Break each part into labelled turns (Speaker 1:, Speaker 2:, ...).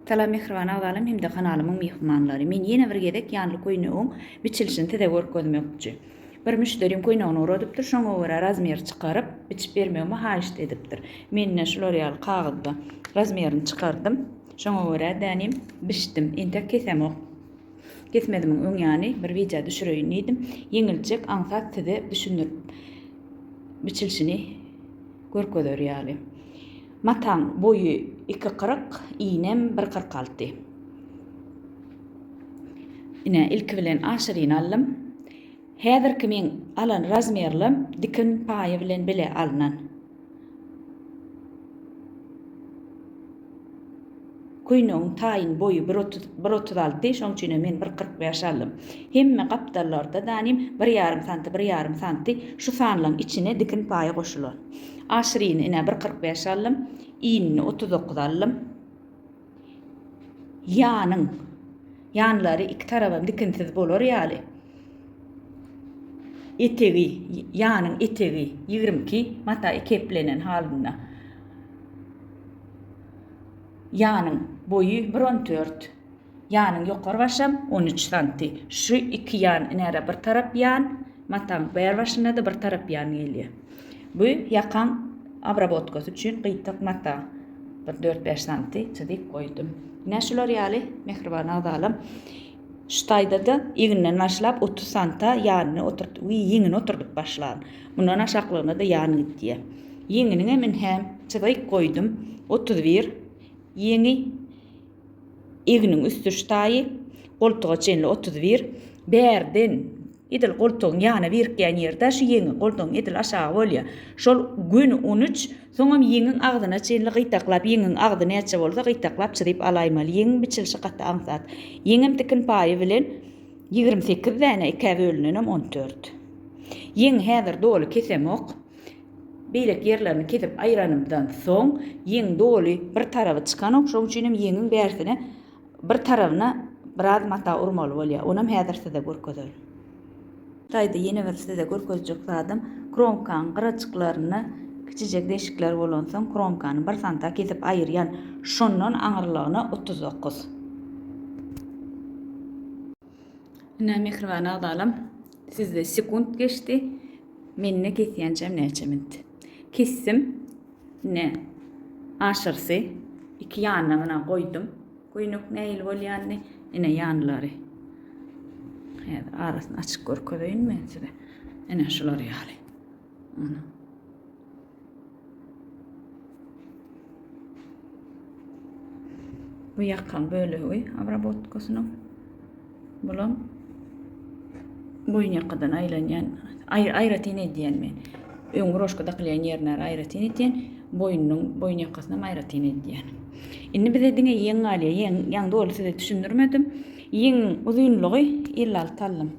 Speaker 1: Salam mähriban agzalarym hem-de kanalymyň myhmanlary. Men ýene bir gezek ýanly köýnegiň biçilişini size görkezmekçi. Bir müşderim köýnegini uradypdyr, şoňa görä razmer çykaryp, biçip bermegimi haýyşt edipdir. Men-de şular ýaly kagyzda razmerini çykardym. Şoňa görä-de inem biçdim. Entek kesemok. Kesmedimiň öň ýany bir wideo düşüreýin diýdim. Ýeňiljek, aňsat size düşündirip biçilişini görkezer ýaly. Mataň boýy iki kyrk, iýnem bir kyrk alty. Ine, ilki bilen aşyryny aldym. Häzirki meň alan razmerlim dikin paýy bilen bile alnan. Köýnegiň taýyn boýy bir otuz, bir otuz alty, şoň üçinem men bir kyrk bäş aldym. Hemme gapdallarda danym bir ýarym santy, bir ýarym santy şu sanlaň içine dikin paýy goşulan. Aşyryny ine bir kyrk bäş aldym. Iýnini otuz dokuz aldym. Ýanyň, ýanlary iki tarabam dikinsiz bolar ýaly etegi, ýanyň etegi ýigrimi iki mata keplenen halynda. Ýanyň boýy bir on dört. Ýanyň ýokary başam on üç santi. Şu iki ýan nära bir tarap ýan, mataň bär başynda-da bir tarap ýan gelýär. Bu ýakaň abrabotkasy üçin gyýtak mata bir dört-bäş santi çyzyp goýdum. Ine şular ýaly, mähriban agzalam. Şu taýda-da egninden başlap otuz santa ýanyny oturt we ýeňini oturdyp başlan. Mundan aşaklygyna-da ýan git diýýär. Ýeňiniňem ünhäm çyzyk goýdum, otuz bir, ýeňi, egniň üst-üş taýy, goltuga çenli otuz bir, bärden edil goltugyň ýana birikýän ýeri-de şu ýeňi, goltugyň edil aşagy bolýar. Şol göni on üç. Soňam ýeňiň agzyna çenli gytaklap, ýeňiň agzy näçe bolsa, gytaklap çyzyp alaýmaly. Ýeňiň biçilişi gaty aňsat. Ýeňem tikin paýy bilen ýigrimi sekiz däne, ikä bölünenem on dört. Ýeňi häzir doly kesemok. Beýleki ýerlerini kesip aýranymdan soň, ýeň doly bir taraby çykanok, şoň üçinem ýeňiň bärsine Bir tarabyna biraz mata urmaly bolýar. Onam häzir size görkezerin. Taýda ýene bir size görkezjek zadym, kromkaň gyraçyklarynda kiçijek deşikler bolansoň, kromkany bir santa kesip aýyrýan. Şondan aňyrlygyna otuz dokuz. Ine, mähriban agzalam, sizde sekunt geçdi, mende kesýänçäm näçe minut. Kesdim. Ine, aşyrysy iki ýanyna muna goýdum. Göýnek nähili bolýanyny, ine ýanlary. Häzir arasyny açyp görkezeýin men size. Ine şular ýaly. Ana. Bu ýakan bölegi abrabotkasynyň. Bulam boýun ýakadan aýlanýan, aýratyn edýän men. Öňki roşka dakylýan ýerine aýratyn etýän, boýnunyň boýun ýakasyna aýratyn edýän. Indi bize diňe ýeň galýar. Ýeň, ýaň doly size düşündirmedim. Ýeň uzynlygy 56 allym.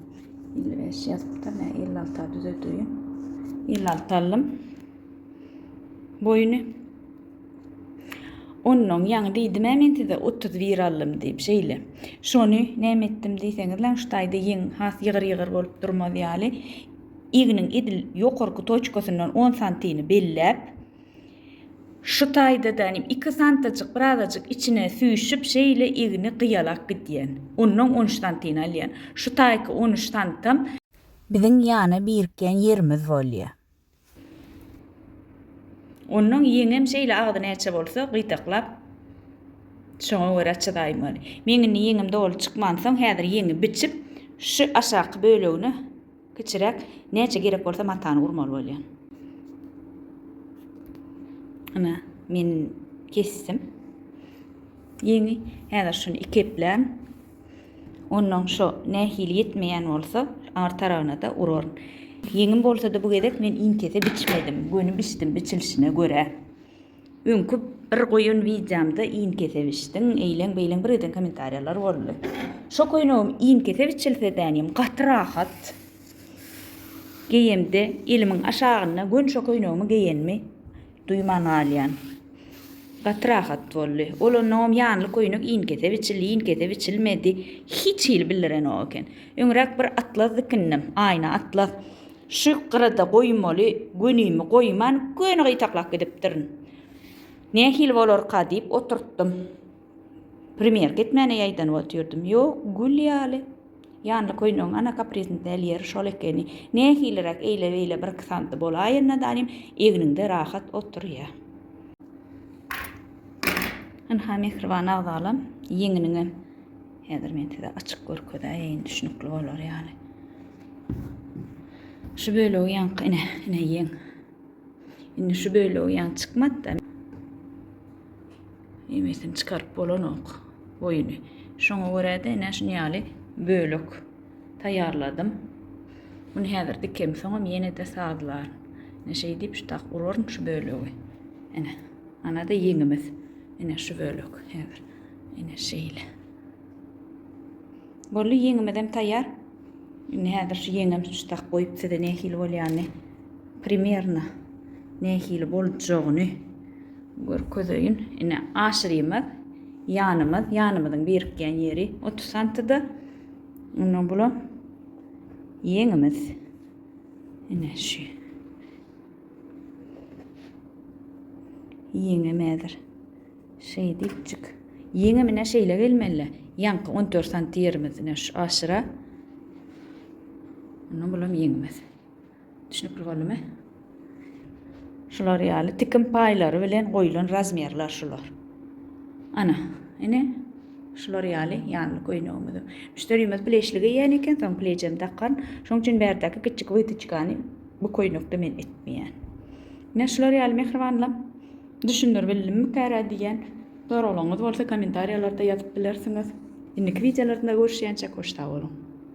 Speaker 1: 55 ýazypdyr, nä 56 düzedýän. 56 allym. Boýny Onnoň ýaňy diýdim-ä men size otuz bir aldym diýip şeýle. Şony näme etdim diýseňiz laňştaýda ýeň has ýygyr-ýygyr bolup durmaz ýaly igniň edil ýokarky toçkasyndan on santini belläp şu taýda-da nim iki santajyk birazajyk içine süýşüp şeýle igni gyýalak gidýän. Onnoň on üç santini alýan. Şu taýky on üç santam. Biziň ýana birikýän ýerimiz bolýa. Onnoň ýeňňem şeýle agzy näçe bolsa, gyýdaklap, şoňa görä çydaýmaly. Men indi ýeňňim doly çykmansoň, häzir ýeňňi biçip, şu aşaky bölegine kiçiräk, näçe gerek bolsa matany urmaly bolýan. Ana, men kesdim ýeňňi. Häzir şuny iki eplän. Onnoň şo nähili ýetmeýän bolsa, ar taragyna-da uraryn. Ýeňim bolsa-da bu gezek men iňkese biçmedim, göni biçdim biçilişine görä. Öňki bir goýan wideomda iňkese biçdiň, eýleň-beýleň bir eden kommentariýalar boldy. Şo köýnegim iňkese biçilsedänem gaty rahat. Geýemde elimiň aşagynda göni şo köýnegimi geýenimi Duýman galýan. Gaty rahat boldy. Ol onnoňam ýanly köýnek inkese biçildi, inkese biçilmedi. Hiç hili bildirenok eken. Öňräk bir atlas dikindim. Aýna atlas. Şu gyrada goýmaly gönimi goýman, göni gytaklap gidipdirin. Nähili bolarka diýip oturtdym. Premýerka etmäne ýaýdanyp otyrdymy? Ýok, gül ýaly. Ýanly köýnegiň ana kaprizini däl ýeri şol ekeni. Nähiliräk eýle-beýle birki santy bolaýanda danym egniňde rahat oturýa. Ynha, mähriban agzalam, ýeňiniňem häzir men size açyk görkezäýeýin, düşnükli bolar ýaly. Şu bölegi ýaňky, ine, ine ýeň. Indi şu bölegi ýaňy çykmady-da. Emesini çykaryp bolanok boýuny. Şoňa görä-de ine şuny ýaly bölek taýýarladym. Muny häzir dikem soňam ýene-de sazlar. Ine şeýdip şu tak uraryn şu bölegi. Ine. Ana-da ýeňimiz. Ine şu bölek häzir. Ine şeýle. Boldy ýeňimizem taýýar. Indi häzir şu ýeňňem çuştak goýup size nähili bolýany primerno nähili boljagyny görkezeýin. Ine aşyrymyz ýanymyz, ýanymyzyň birikýän ýeri 30 santyda. Ondan bulam ýeňimiz. Ine şu. Ýeňim häzir. Şeýdipjik, ýeňimine şeýle gelmeli-le, ýaňky on dört santy ýerimizden şu aşyra. Indi bulam ýeňimiz. Düşnükli boldumy? Şular ýaly tikin paýlary bilen goýlan razmerler şular. Ana, ine şular ýaly ýanly köýnegimizi. Müşderimiz pleşli geýýän eken, soň plejem dakan. Şoň üçin bärdäki kiçijik wytyçkany bu köýnekde men etmeýän. Ine şular ýaly mähribanlam. Düşündir bildimmikäre diýen soraglaryňyz bolsa kommentariýalarda ýazyp bilersiňiz. Indiki wideolaryda görüşýänçäk hoş sag boluň.